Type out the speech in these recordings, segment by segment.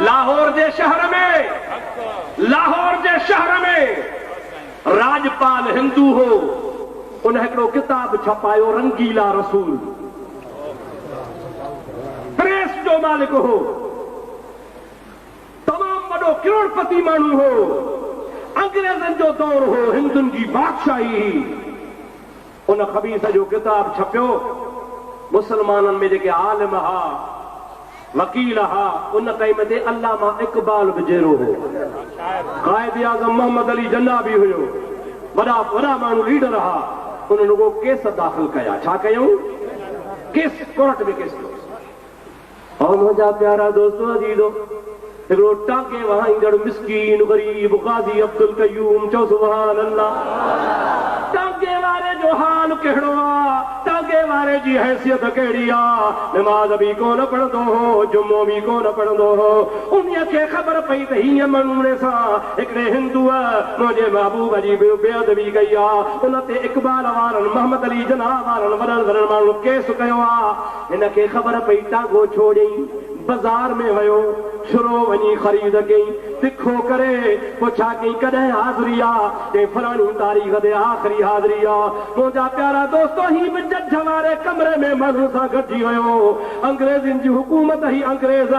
لاهور جي شهر ۾ لاهور جي شهر ۾ راڄپال هندو هو ان هڪڙو ڪتاب ڇپايو رنگيلا رسول پريس جو مالڪ هو تمام وڏو ڪروڙپتي ماڻهو هو انگريزن جو دور هو هندن جي بادشاهي هئي. ان خبيث جو ڪتاب ڇپيو. مسلمانن ۾ جيڪي عالم ھئا، وڪيل ھئا، ان ٽائيم تي علامه اقبال به جيئرو ھو. قائد اعظم محمد علي جناح به ھيو. وڏا وڏا ماڻھو ليڊر ھئا. انھن رڳو ڪيس داخل ڪيا. ڇا ڪيائون؟ ڪيس ڪورٽ ۾ ڪيس ڪيوس. او منهنجا پيارا دوستو عزيزو! هڪڙو ٽانڪي وهائيندڙ مسڪين غريب غازي عبدالقيوم چئو سبحان الله! ٽانڪي واري جو حال ڪهڙو آ؟ ٽانڪي واري جي حيثيت ڪهڙي آ؟ نماز به ڪونه پڙهندو هو، جمعو به ڪونه پڙهندو هو. انهيء کي خبر پئي ته هيء مڙوڻي سان هڪڙي هندوء منهنجي محبوب جي بي ادبي ڪئي آ. ان تي اقبال وارن، محمد علي جناح وارن وڏن وڏن ماڻهن ڪيس ڪيو آ. هن کي خبر پئي ٽانگو ڇوڙيئي بزار ۾ ويو شروع وڃي خريد ڪيئي تکو ڪري پو ڇا ڪيئي ڪڏهن حاضري آ ڪئين فراڻي تاريخ تي آخري حاضري آ منهنجا پيارا دوستو هي به جج واري ڪمري ۾ ماڻهن سان گڏجي ويو انگريزين جي حڪومت هي انگريز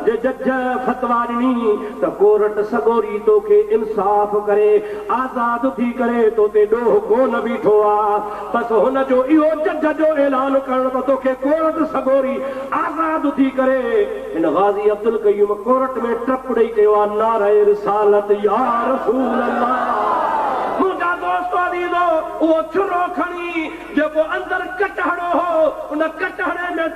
جي جج فتوا ڏني ته ڪورٽ سڳوري توکي انصاف ڪري آزاد ٿي ڪري توتي ڏوهه ڪونه بيٺو آ بس هن جو اهو جج جو اعلان ڪرڻ ته توکي ڪورٽ سڳوري آزاد ٿي ڪري. هن غازي عبدالقيوم ڪورٽ ۾ ٽپ ڏئي چيو آ نعره رسالت يا رسول الله. منهنجا دوستو عزيزو اهو ڇرو کڻي جيڪو اندر ڪٽهڙو هو ان ڪٽهڙي ۾.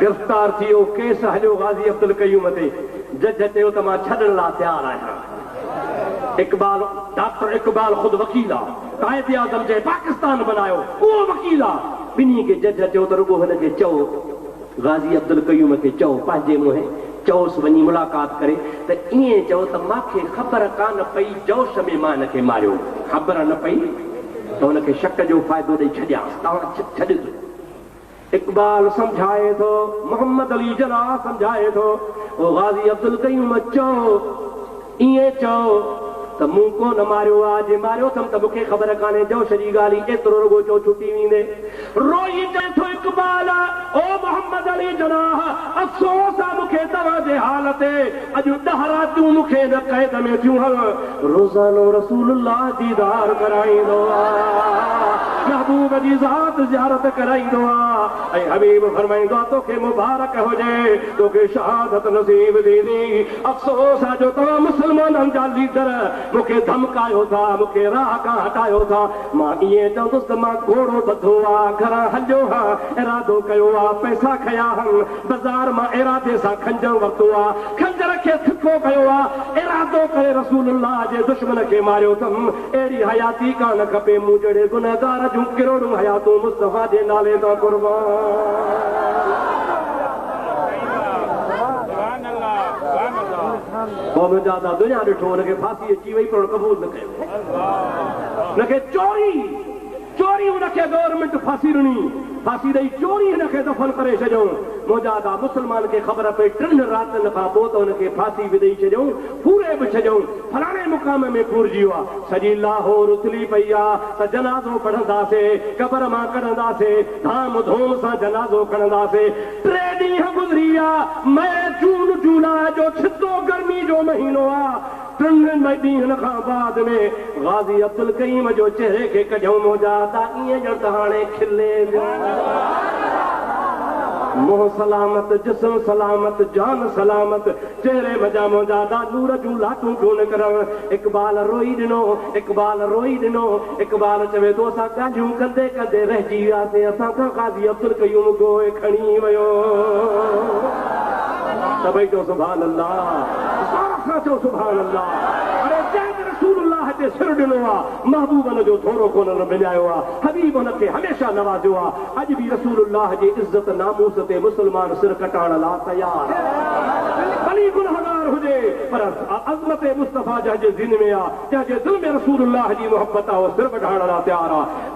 گرفتار ٿي اهو ڪيس هليو غازي عبدالقيوم تي، جج چيو ته مان ڇڏڻ لا تيار آهيان. اقبال، ڊاڪٽر اقبال خود وڪيل آ، قائداعظم جنهن پاڪستان بنايو اهو وڪيل آ، ٻنهي کي جج چيو ته رڳو هن کي چئو، غازي عبدالقيوم کي چئو پنهنجي منهن چئوس وڃي ملاقات ڪري ته ائين چئو ته مان کي خبر ڪانه پئي جوش ۾ مان هن کي ماريو، خبر نه پئي ته هن کي شڪ جو فائدو ڏئي ڇڏيانس، توهان ڇڏيو ٿو. اقبال سمجهائي ٿو، محمد علي جناح سمجهائي ٿو، او غازي عبدالقيوم چئو، ائين چئو ته مون ڪو نه ماريو آ، جي ماريو ٿم ته مون کي خبر ڪانهي، جوش جي ڳالهه ئي ايترو رڳو چئو ڇٽي ويندي. روئي چئي ٿو اقبال، او محمد علي جناح افسوس آ مون کي توهان جي حال تي، اڄ ڏهه راتيون مون کي هن قيد ۾ ٿيون هل روزانو رسول الله ديدار ڪرائيندو آ محبوب جي ذات زيارت ڪرائيندو آ ۽ حبيب فرمائيندو آ توکي مبارڪ هجي توکي شهادت نصيب ٿيندي افسوس آ جو توهان مسلمانن جا ليڊر مون کي ڌمڪايو ٿا مون کي راهه کان هٽايو ٿا مان ائين چوندس ته مان گهوڙو ٻڌو آ گهران هليو هان ارادو ڪيو آ پئسا کنيا هن بازار مان ارادي سان خنجر ورتو آ، خنجر کي تکو ڪيو آ، ارادو ڪري رسول الله جي دشمن کي ماريو اٿم، اهڙي حياتي ڪانه کپي، مون جهڙي گنهگار جون ڪروڙون حياتون مصطفيٰ جي نالي تان قربان. قوم جا دا دنيا ڏٺو، ان کي ڦاسي اچي وئي پر ان قبول نه ڪيو، ان کي چوري. چوري هن کي گورنمينٽ ڦاسي ڏني. ڦاسي ڏئي چوري هن کي دفن ڪري ڇڏيائون. منهنجا ادا مسلمان کي خبر پئي ٽن راتن کان پوء ته هن کي ڦاسي به ڏئي ڇڏيائون، ڦوري به ڇڏيائون. فلاڻي مقام ۾ ڦورجي ويو آهي. سڄي لاهور اٿلي پئي آهي ته جنازو پڙهنداسي، قبر مان ڪڍنداسي، ڌام ڌوم سان جنازو کڻنداسي. ٽي ڏينهن گذري ويا. مئي، جون، جولاء جو ڇتو گرمي جو مهينو آهي. ٽن ڏينهن کان بعد ۾ غازي عبدالقيوم جو چهري کي ڪڍيائون منهنجا ادا ائين ڄڻ ته هاڻي کلي ويو. منهن سلامت، جسم سلامت، جان سلامت، چهري منجهان منهنجا ادا نور جون لاٽون پيون نڪرڻ. اقبال روئي ڏنو، اقبال روئي ڏنو. اقبال چوي ٿو، اسان ڳالهيون ڪندي ڪندي رهجي وياسين، اسان کان قاضي عبدالقيوم گوهه کڻي ويو. سڀئي چئو سبحان الله، سارا سان چئو سبحان الله. اڙي جنهن به رسول الله کي سر ڏنو آ، محبوب ان جو ٿورو ڪونهن مڃايو آ، حبيب ان کي هميشه نوازيو آ، اڄ به رسول الله جي عزت ناموس تي مسلمان سر ڪٽائڻ لا تيار آ، ڀلي گنهگار هجي پر. آء عظمت مصطفيٰ جنهن جي سيني ۾ آ، تنهن جي دل ۾ رسول الله جي محبت آ، اهو سر وڍائڻ لاء تيار آ.